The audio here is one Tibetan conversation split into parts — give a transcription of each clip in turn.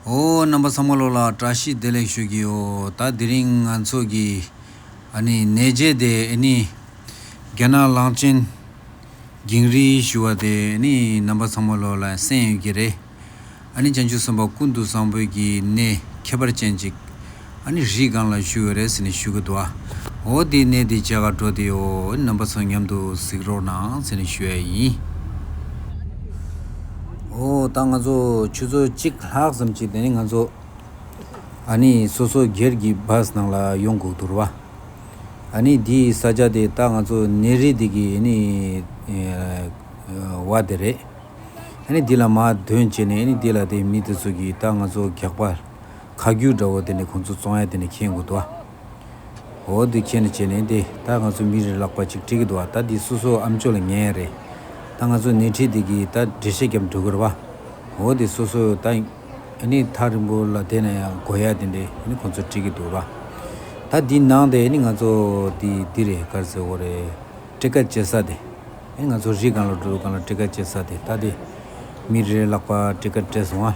ཨོ། རྣམ་པ་ཚང་མ་ལོག་ལ་བཀྲ་ཤིས་བདེ་ལེགས་ཞུ་གི་ཡོད། ད་དེ་རིང་ང་ཚོ་གི། ཨ་ནི། ནས་རྗེས་དེ་ཨེ་ནི། རྒྱ་ནག་གླང་ཆེན། གིང་རིལ་ཞུ་བ་དེ་ཨེ་ནི་རྣམ་པ་ཚང་མ་ལོག་ལ་གསན་ཡོད་ཀྱི་རེད། ཨ་ནི་བྱང་ཆུབ་སེམས་དཔའ་ཀུན་ཏུ་བཟང་པོས་ཀྱི་ནས་ཁྱད་པར་ཅན་ཅིག། ཨ་ནི་རིས་གང་ལ་བཞུགས་ཡོད་རེད་ཟེར་ནས་བཞུགས་གི་འདུག་ཨ། འོ་དེའི་གནས་དེའི་ཇག་ག་འགྲོ་དེའོ་རྣམ་པ་ཚོ་མཉམ་དུ་གཟིགས་རོགས་གནང་ཟེར་ནས་ཞུ་ཡ་ཡིན། འོ་ད་ང་ཚོ་ཆུ་ཚོད་གཅིག་ལྷག་ཙམ་གྱིས་དེ་ནས་ང་ཚོ་ཨ་ནི་སོ་སོ་སྒེར་གྱི་བྷཱས་ནང་ལ་ཡོང་དགོས་འདུག་རོ། ཨ་ནི་དེའི་ས་ཆ་དེ་ད་ང་ཚོ་གནས་རི་དེ་གི་ཨ་ནི་བ་དེ་རེད། ཨ་ནི་དེ་ལ་མ་དོན་བྱས་ནས་ཨ་ནི་དེ་ལ་དེའི་མི་དེ་ཚོ་གིས་ད་ང་ཚོ་རྒྱག་པ། ཁ་རྒྱུག་འདྲ་བོ་དེ་ནི་ཁོང་ཚོ་ཙོང་ཡ་དེ་ནས་ཁྱེར་དགོས་འདུག་ཨ། འོ་དེ་ཁྱེར་ནས་བྱས་ནས་དེ་ད་ང་ཚོ་མི་རེ་ལག་པ་ཅིག་དཀྲིས་ཀྱི་འདུག་ཨ་ད་དེ་སོ་སོ་ཨམ་ཅོག་ལ་ཉན་ཡ་རེད། ད་ང་ཚོ་སྣེ་ཁྲིད་དེ་གིས་ད་འགྲེལ་བཤད་རྒྱབ་འགྲོ་དགོས་རེད་བ། འོ་དེ་སོ་སོ་ད་ནི་ཐག་རིང་པོ་ལ་དེ་ན་ཡང་དགོས་ཡ་དེ་འདི་ཁོང་ཚོ་དཀྲིས་ཀྱི་འདུག་ར། ད་དེ་ནང་དེ་ནི་ང་ཚོ་དེ་འདི་རེད་ཀར་ཟེར་བོ་རེད། དཀྲིས་ཀ་བྱེད་ས་དེ་ནི་ང་ཚོ་རི་གང་ལ་འགྲོ་དུས་གང་ལ་དཀྲིས་ཀ་བྱེད་ས་དེ་ད་དེ་མི་རེ་ལག་པ་དཀྲིས་ཀ་སྤྲད་སོང་ཨ།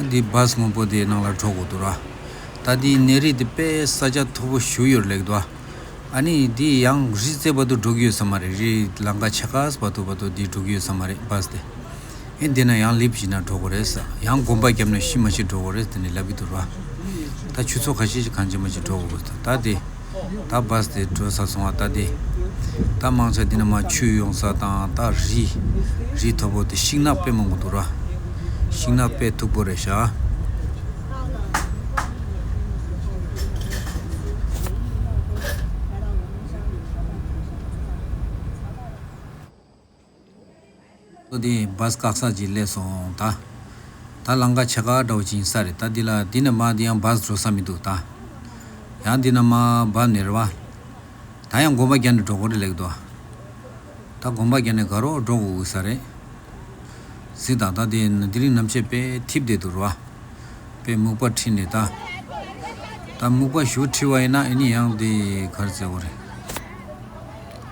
འདི་བཱ་སྔོན་པོ་དེའི་ནང་ལ་འགྲོ་དགོས་འདུག་ར། ད་འདིའི་གནས་རི་འདི་དཔལ་ས་ཆ་མཐོ་པོ་བཞུགས་ཡོད་ལེགས་འདུག་ཨ། ཨ་ནི་འདི་ཡང་རི་རྩེ་བར་དུ་འགྲོ་གི་ཡོད་ས་མ་རེད་རི་ལང་ཀ་ཆེ་ཁག་བར་དུ་བར་དུ་འདི་འགྲོ་གི་ཡོད་ས་མ་རེད་བཱ་སྟེ། ཨེ་འདི་ན་ཡང་ལིབ་བྱིན་ན་འགྲོ་དགོས་རེད་ས་ཡང་དགོན་པ་རྒྱབ་ན་ཤི་མ་ཤི་འགྲོ་དགོས་རེད་ད་ནི་ལབ་གི་འདུག་ར། ད་ཆུ་ཚོགས་ཁ་ཤས་ཀྱི་གངས་ཅན་མ་ཅིག་འགྲོ་དགོས་དགོས་འདུག་ད་འདི། ད་བཱས་ཏེ་བྲོས་ས་སོང་བ་ལྟ་སྟེ། ད་དམག་ཆ་འདི་ན་མ་ཆུ་ཡོང་ས་དང་ད་རི། རི་མཐོ་པོ་དེ་ཤིང་ནགས་དཔེ་མང་པོ་འདུག་ར། ཤིང་ནགས་དཔེ་མཐུག་པོ་རེད་བཞག། ལོ་དེའི་བཱ་སྐག་སར་གྱི་སླད་སོང་ད། ད་ལང་ཀ་བྱེད་ཀ་འདྲའོ་ཅིང་ས་རེད་ད་འདི་ལ་འདི་ནས་མ་འདི་ཡང་བཱ་བཟོ་ས་མི་འདུག་ད། ཡང་འདི་ན་མ་བཱ་མེར་བཱ། ད་ཡང་དགོན་པ་རྒྱ་ནས་འགྲོ་གོ་རེ་ལེགས་འདུག་ད་དགོན་པ་རྒྱ་ནས་ག་རོག་འགྲོ་གོ་འུ་ས་རེད། གཟིགས་དང་ད་དེ་ན་དེ་རིང་ནམ་ཕྱེད་པས་ཐིབ་བསྡད་འདུག་རོ། པས་སྨུག་པ་ཁྲིད་ནས་ད། ད་སྨུག་པ་ཞུ་ཁྲིད་བ་ཡིན་ན་ཨེ་ནི་ཡང་དེ་གར་བཙལ་གོ་རེད།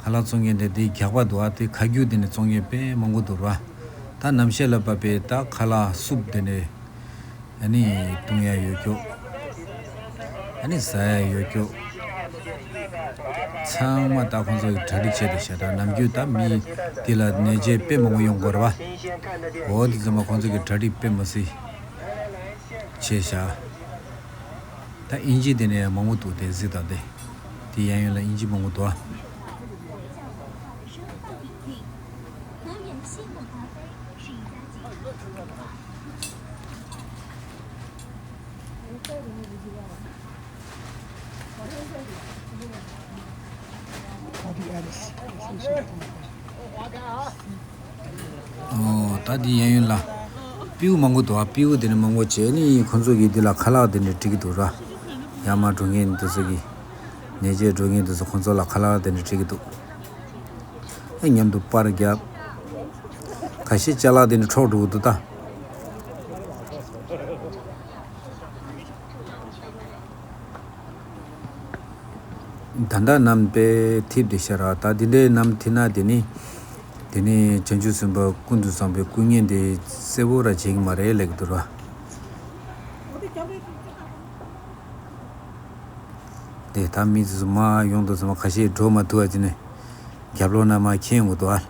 ག་ལ་བཙོང་མཁན་དེ་དེའི་རྒྱགས་པ་འདུག་ཨ་དེ་ཁ་རྒྱུགས་དེ་ནས་བཙོང་མཁན་དཔེ་མང་པོ་འདུག་ར་ད་ནམ་ཤེས་ལ་བབས་པའི་ད་ག་ལ་སུབ་དེ་ནས་ཨ་ནི་བཏུང་ཡ་ཡོད་ཀྱོག་ཨ་ནི་ཟ་ཡ་ཡོད་ཀྱོག་ཚང་མ་ད་ཁོང་ཚོ་ཡི་གྲ་སྒྲིག་བྱས་ཏེ་ཤ་ད་ནམ་རྒྱུན་ད་མི་དེ་ལ་ནད་བྱས་དཔེ་མང་པོ་ཡོང་དགོ་ར་བ་འོ་དེ་ཚང་མ་ཁོང་ཚོ་གི་གྲ་སྒྲིག་དཔེ་མ་སི་བྱས་ཤ། ད་ཨིན་ཇི་དེ་ནས་མང་པོ་འདུག་དེ་གཟིགས་དང་དེ་དེ་ཡན་ཡོད་ལ་ཨིན་ཇི་མང་པོ་འདུག་ཨ། ད་འདི་ཡན་ཡོད་ལ། སྤེའུ་མང་པོ་འདུག་ཨ་སྤེའུ་དེ་ནི་མང་པོ་བྱས་ནི་ཁོ་ཚོ་གིས་འདི་ལ་ཁ་ལག་དེ་འདྲ་བྲིས་ཀྱི་འདུག་ར། ཡར་མར་འགྲོ་མཁན་དེ་ཚོ་གིས། ནད་བཅོས་འགྲོ་མཁན་དེ་ཚོ་ཁོ་ཚོ་ལ་ཁ་ལག་དེ་འདྲ་བྲིས་ཀྱི་འདུག། ཨེ་མཉམ་དུ་པར་བརྒྱབ། ག་ཤེད་ལྕགས་ལག་དེ་འདྲ་འཕྲོག་འགྲོ་གི་འདུག་ད། ད་འདྲ་རྣམས་པས་ཐིབས་དེ་ཤར་ར། ད་འདི་འདྲའི་རྣམས་ཐིབས་ན་དེ་ནི། དེ་ནས་བྱང་ཆུབ་སེམས་དཔའ་ཀུན་ཏུ་བཟང་པོས་སྐུ་བརྙན་དེ་གསལ་བོ་ར་བྱེད་ཀྱི་མ་རེད་ལེགས་འདུག་ར། དེ་ད་མི་ཚོས་མ་ཡོང་དུ་ཚང་མ་ཁ་ཤས་འགྲོ་མ་ཐུ་བ་ཅི་ནས་རྒྱབ་ལོག་ན་མ་ཁྱེད་ངོ་དུ་ཨ།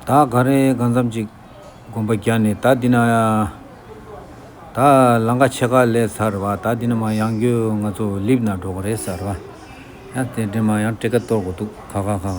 ད་ག་རེ་ག་འཚམ་ཅིག་དགོན་པ་རྒྱ་ནས་ད་འདི་ན་ད་ལང་ཀ་ཆེ་ག་ལས་ཚར་བ་ད་འདི་ན་མ་ཡང་གྱོད་ང་ཚོ་ལིབ་ན་འགྲོ་ག་རེ་ཚར་བ་ཡང་དེ་འདྲེ་མ་ཡང་དྲེ་ག་གཏོར་གོ་འདུག་ག་ག་ག་ག།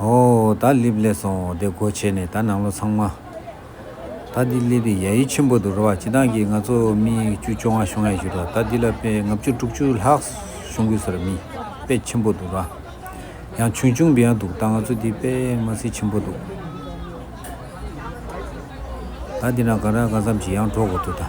ཨོ། ད་སླེབས་སླེབས་སོང་བདེ་སྒོ་ཕྱེས་ནས་ད་ནང་ལོ་ཚང་མ། ད་འདི་སླེབས་པའི་ཡ་ཡི་ཆེན་པོ་འདུག་ར་བ་སྤྱི་བཏང་གིས་ང་ཚོ་མི་བཅུ་བཅོ་ལྔ་ཤོང་ཡ་ཞུ་ར་ད་འདི་ལ་དཔེ་ལྔ་བཅུ་དྲུག་ཅུ་ལྷག་ཤོང་དགོས་ཟེར་ར་མི་དཔེ་ཆེན་པོ་འདུག་ར་ཡང་ཆུང་ཆུང་འབི་ཡ་འདུག་ད་ང་ཚོ་འདི་དཔེ་མ་སི་ཆེན་པོ་འདུག་ད་འདི་ན་གང་རག་གང་བསམ་གྱིས་ཡང་འགྲོ་དགོས་འདུག་ད།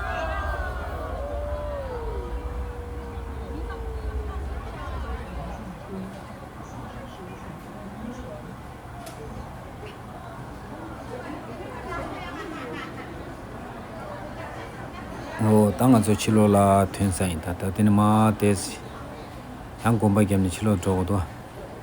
ད་ང་ཚོ་ཕྱི་ལོག་ལ་ཐོན་ས་ཡིན་ད་ད་དེ་ནི་མ་དེས་ཡང་གོམ་པ་བརྒྱབ་ནས་ཕྱི་ལོག་འགྲོ་གོ་ཏོ།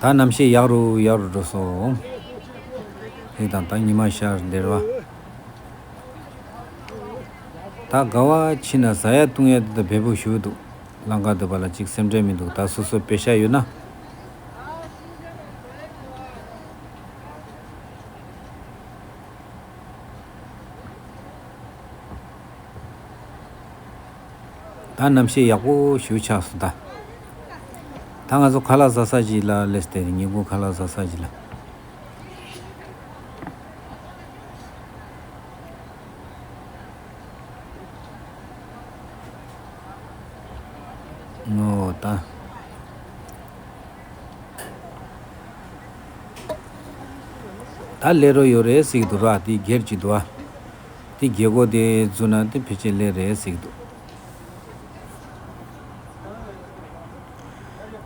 ད་རྣམ་ཤེས་ཡག་རུ་ཡག་རུ་འགྲོ་སོང། ཞེས་དང་ད་ཉི་མ་ཤར་འདིར་བ། ད་དགའ་བ་ཕྱི་ན་བཟའ་ཡ་བཏུང་ཡ་དེ་དང་བལ་བུ་ཞུ་འདུག་ལང་ཀ་འདུག་པ་ལ་གཅིག་སེམས་ཁྲལ་མི་འདུག་ད་སོ་སོ་བེ་ཤ་ཡོད་ན། ད་རྣམ་ཤེས་ཡག་པོ་ཞུ་ཆགས་སུ་གདའ། ད་ང་ཚོ་ཁ་ལག་ཟ་ས་ཞིག་ལ་ལས་སྟེ་ཉིན་གུང་ཁ་ལག་ཟ་ས་ཞིག་ལ། ངོ་ད། ད་ལས་རོ་ཡོད་རེད་ཟིག་འདུག་ར་དེ་སྒེར་གྱི་འདུག་ཨ། དེ་རྒྱལ་སྒོ་དེ་བཙུགས་ན་དེ་ཕལ་ཆེར་ལེགས་རེད་ཟེར་གྱི་འདུག།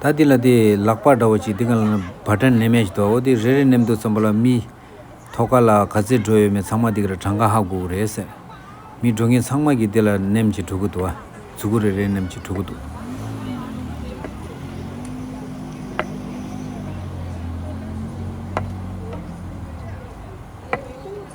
ད་དེ་ལ་དེ་ལག་པ་འདྲ་བོ་ཅིག་དེ་ག་ལ་ན་བ་ཏྲ་ནེ་མེད་ཅིག་འདུག་ཨོ་དེ་རེ་རེ་ནེམ་འདུག་ཙམ་པོ་ལ་མི། ཐོག་ཁ་ལ་ག་ཚད་འགྲོ་ཡོད་མེད་ཚང་མ་དེ་ག་ལ་གྲངས་ཀ་ཧ་གོག་རེད་ཟེར། མི་འགྲོ་མཁན་ཚང་མ་གིས་དེ་ལ་ནེམ་ཅིག་འགྲོ་གི་འདུག་ཨ་ཙི་གུ་རེ་རེ་ནེམ་ཅིག་འགྲོ་གི་འདུག།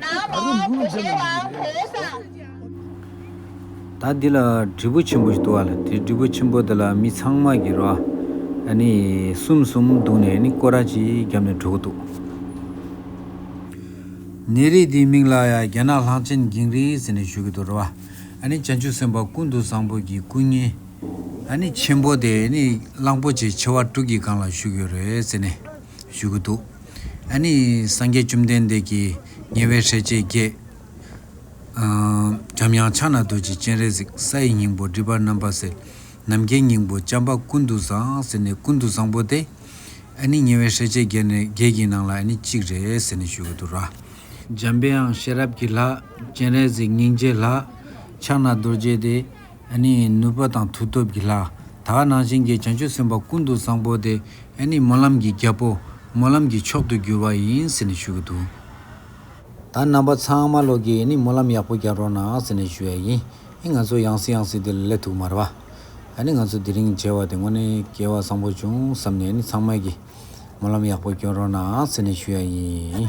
ད་རུང་འབུ་ལུག་འདྲེ་མང་པོ་ཞིག་རེད། ད་འདི་ལ་དྲིལ་བུ་ཆེན་པོ་ཞིག་འདུག་བ་ལ་དེ་དྲིལ་བུ་ཆེན་པོ་དེ་ལ་མི་ཚང་མ་གི་རོ་ཨ་ནི་གསུམ་གསུམ་འདུག་ནས་ནི་ཀོ་ར་ཅིག་བརྒྱབ་ནས་གྲོལ་གི་འདུག། ནད་རིགས་དེའི་མིང་ལ་ཡང་རྒྱ་ནག་ལྷག་ཆེན་འགྱིང་རིགས་ཟེར་ནས་ཞུ་གི་འདུག་རོ་ཨ་ནི་བྱང་ཆུབ་སེམས་དཔའ་ཀུན་ཏུ་བཟང་པོ་གི་སྐུ་བརྙན་ཨ་ནི་ཆེན་པོ་དེ་ནི་གླང་པོ་ཆེ་མཆེ་བ་དྲུག་གི་སྒང་ལ་བཞུགས་ཡོད་རེད་ཟེར་ནས། ཞུ་གི་འདུག་ཨ་ནི་སངས་རྒྱས་བཅོམ་ལྡན་འདས་ཀྱིས་ཉེ་བའི་ཧྲལ་བཅས་བརྒྱད། འཇམ་དབྱངས་ཕྱག་ན་རྡོ་རྗེ་སྤྱན་རས་གཟིགས་ས་ཡི་སྙིང་པོ་སྒྲིབ་པ་རྣམ་པར་སེལ། ནམ་མཁའི་སྙིང་པོ་བྱམས་པ་ཀུན་ཏུ་བཟང་ཟེར་ནས་ཀུན་ཏུ་བཟང་པོ་སྟེ། ཨ་ནི་ཉེ་བའི་ཧྲལ་བཅས་བརྒྱད་ཀྱི་ནང་ལ་ཨ་ནི་གཅིག་རེད་ཟེར་ནས་ཞུ་གི་འདུག་ར། འཇམ་དབྱངས་ཤེས་རབ་ཀྱི་ལྷ། སྤྱན་རས་གཟིགས་སྙིང་རྗེའི་ལྷ། ཕྱག་ན་རྡོ་རྗེ་སྟེ། ཨ་ནི་ནུས་པ་དང་མཐུ་སྟོབས་ཀྱི་ལྷ། དག་སྣང་ཅན་གྱི་བྱང་ཆུབ་སེམས་དཔའ་ཀུན་ཏུ་བཟང་པོ་དེ་ཨ་ནི་སྨོན་ལམ་གྱི་རྒྱལ་པོ། སྨོན་ལམ་གྱི་མཆོག་ཏུ་གྱུར་བ་ཡིན་ཟེར་ནས་ཞུ་གི་འདུག་ད་རྣམ་པ་ཚང་མ་ལོག་གིས་ཨ་ནི་སྨོན་ལམ་ཡག་པོ་རྒྱག་རོགས་གནང་ཟེར་ནས་ཞུ་ཡ་ཡིན་ཨི་ང་ཚོ་ཡང་སྲིད་ཡང་སྲིད་དེ་ལ་སླེབས་ཐུག་མ་རེད་པ། ཨ་ནི་ང་ཚོ་དེ་རིང་མཇལ་བ་དེ་དངོས་གནས་སྐལ་བ་བཟང་པོ་བྱུང་བསམ་ནས་ཨ་ནི་ཚང་མས་ཀྱིས་སྨོན་ལམ་ཡག་པོ་སྐྱོན་རོགས་གནང་ཟེར་ནས་ཞུ་ཡ་ཡིན།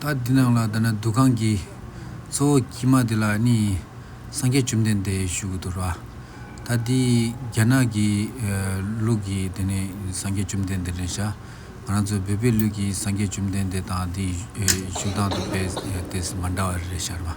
ད་འདི་ནང་ལ་ད་ནི་འདུ་ཁང་གི་གཙོ་བོ་དཀྱིལ་མ་དེ་ལ་ནི་སངས་རྒྱས་བཅོམ་ལྡན་འདས་བཞུགས་ཀྱི་འདུག་ར་ད་འདི་རྒྱ་ནག་གི་ལུགས་ཀྱི་དེ་ནི་སངས་རྒྱས་བཅོམ་ལྡན་འདས་རེད་ཤག་ང་རང་ཚོའི་བོད་པའི་ལུགས་ཀྱི་སངས་རྒྱས་བཅོམ་ལྡན་འདས་དང་འདི་བཞུགས་སྟངས་དང་པས་དེས་མ་འདྲ་བ་རེད་ཤག་རེད་མ།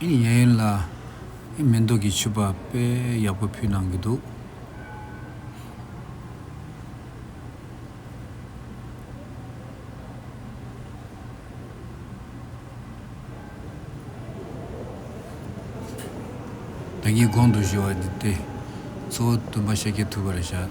ཨེ་ཡ་ཡོན་ལ་ཨེ་མེ་མདོག་གི་ཕྱུ་པ་དཔེ་ཡག་པོ་ཕུལ་གནང་གི་འདུག། བདག་ཉིད་དགོངས་དུ་གཞོལ་བ་འདི་སྟེ། གཙོ་བོ་སྟོན་པ་ཤཱཀྱའི་ཐུགས་ཀར་བཞག།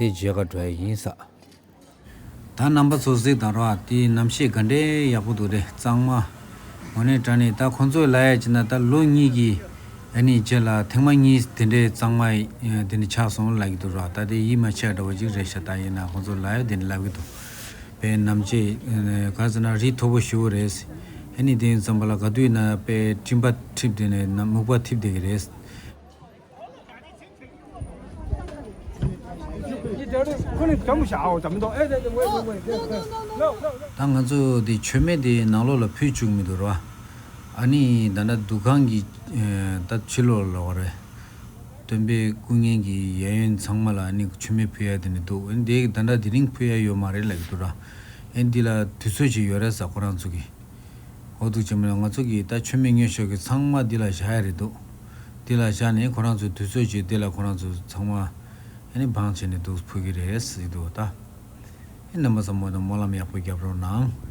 དེ་རྗེས་ག་དྲ་ཡིན་ས། ད་རྣམ་པ་ཚོ་གཟིགས་དང་རོགས་དེ་རྣམ་ཤེས་ག་འདྲའི་ཡག་པོ་འདུག་རེད་གཙང་མ། འོ་ནི་དྲ་ནི་ད་ཁོང་ཚོས་ལ་ཡ་ཅི་ན་ད་ལོ་གཉིས་ཀྱི་ཨ་ནི་རྗེས་ལ་ཐེངས་མ་གཉིས་དེ་འདྲའི་གཙང་མ་དེ་ནི་ཆགས་སོང་ལབ་ཀྱི་འདུག་རོགས་ད་དེ་ཡིད་མ་ཆེས་འདྲ་བ་ཅིག་རེད་ཤ་ད་ཡིན་ན་ཁོང་ཚོས་ལ་ཡ་དེ་ནི་ལབ་ཀྱི་འདུག་པས་ནམ་ཅེས་ག་ཟེར་ན་རིགས་མཐོ་པོ་ཞུ་བོ་རེད། ཨ་ནི་དེ་ཡིན་ཙམ་པ་ལ་ག་དུས་ན་དཔེ་སྤྲིན་པ་འཁྲིབས་དེ་ནི་ནམ་སྨུག་པ་འཐིབས་བསྡད་ཀྱི་རེད། ད་ང་ཚོ་དེ་མཆོད་མེ་དེ་ནང་ལོགས་ལ་ཕུད་བཅུག་མི་འདུག་ར་བ། ཨ་ནི་ད་ནྲ་འདུ་ཁང་གི་ད་ཕྱི་ལོགས་ལ་བ་རེད། སྟོན་པའི་སྐུ་བརྙན་གྱི་གཡས་གཡོན་ཚང་མ་ལ་ཨ་ནི་མཆོད་མེ་ཕུད་ཡ་དེ་ནི་འདུག་འོན་དེ་ད་ནྲ་དེ་རིང་ཕུད་ཡ་ཡོད་མ་རེད་ལ་གི་འདུག་ར། ཨེ་འདི་ལ་དུས་ཚོད་ཅིག་ཡོད་རེད་ས་ཁོ་རང་ཚོ་གི། འོ་འདུག་བྱས་མ་ལ་ང་ཚོ་གི་ད་མཆོད་མེ་ཉོས་ཤོག་གི་ཚང་མ་འདི་ལ་བཞག་ཡ་རེད་འདུག། དེ་ལ་བཞག་ནས་ཁོ་རང་ཚོས་དུས་ཚོད་ཀྱིས་དེ་ལ་ཁོ་རང་ཚོས་ཚང་མ་ནི་འབངས་བྱས་ནས་འདུག་ཕོད་ཀྱི་རེད་ཟེར་གྱི་འདུག་ད་རྣམ་པ་ཚོ་མོ་དང་སྨོན་ལམ་ཡག་པོ་བརྒྱབ་རོགས་གནང།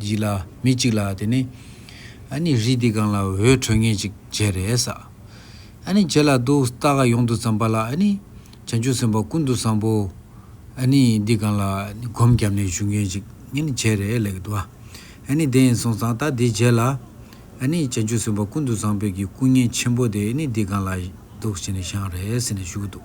གཅིག་ལ་མི་གཅིག་ལ་དེ་ནི། ཨ་ནི་རི་འདི་གང་ལ་འོད་འཕྲོས་ངེས་ཅིག་བྱས་རེ་ས། ཨ་ནི་བྱས་ལ་འདུག་རྟ་ཁ་ཡོངས་དུ་ཙམ་པ་ལ་ཨ་ནི། བྱང་ཆུབ་སེམས་དཔའ་ཀུན་ཏུ་བཟང་པོ། ཨ་ནི་འདི་གང་ལ་ཨ་ནི་སྒོམ་བརྒྱབ་ནས་བཞུགས་ངེས་ཅིག་ཨ་ནི་བྱས་རེ་ལེགས་འདུག། ཨ་ནི་དེ་ཡིན་སོང་ཙང་རྟ་འདི་བྱས་ལ། ཨ་ནི་བྱང་ཆུབ་སེམས་དཔའ་ཀུན་ཏུ་བཟང་པོས་ཀྱི་སྐུ་བརྙན་ཆེན་པོ་དེ་ཨ་ནི་འདི་གང་ལ་འདུག་བྱས་ནས་བཞེངས་རེ་ཟེར་ནས་བཞུགས་འདུག།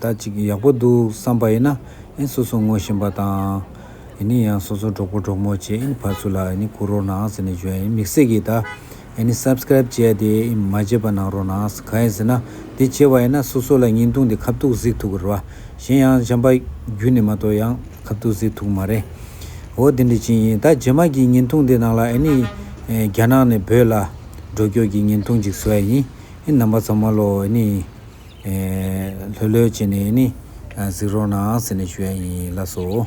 ད་ཅིག་ཡག་པོ་འདུག་བསམ་པ་ཡིན་ན་ཨིན་སོ་སོ་ངོ་བཞིན་པ་དང་ཨིན་ཡང་སོ་སོ་གྲོགས་པོ་གྲོགས་མོ་བཅས་ཨིན་ཕར་ཚུར་ལ་ཨིན་ཁུར་རོགས་གནང་ཟེར་ནས་བརྗོད་ཨིན་མིག་སེར་གྱིས་ད་ཨིན Subscribe བྱས་ཏེ་ཨིན་མ་བརྗེད་པ་གནང་རོགས་གནང་གང་ཡིན་ཟེར་ན་དེ་བྱས་བ་ཡིན་ན་སོ་སོ་ལ་ཉིན་ཐུང་འདི་ཁ་བཏུག་གཟིགས་ཐུག་གི་རེད་བ་གཞན་ཡང་བྱམས་པ་བརྒྱུད་ནས་མ་གཏོགས་ཡང་ཁ་བཏུག་གཟིགས་ཐུག་མ་རེད་འོ་དེ་འདྲ་ཅི་ཡིན་ད་རྗེས་མ་གི་ཉིན་ཐུང་དེ་ནང་ལ་ཨིན་རྒྱ་ནག་ནས་བོད་ལ་འགྲོ་སྐྱོད་ཀྱི་ཉིན་ཐུང་ཅིག་བཟོ་ཡ་ཡིན་ཨིན་ནང་པ་ཚོ་མ་ལོ་ཨིན། ལྷོད་ལྷོད་བྱས་ནས་ནི་གཟིགས་རོགས་གནང་ཟེར་ནས་ཞུ་ཡ་ཡིན་ལགས་སོ།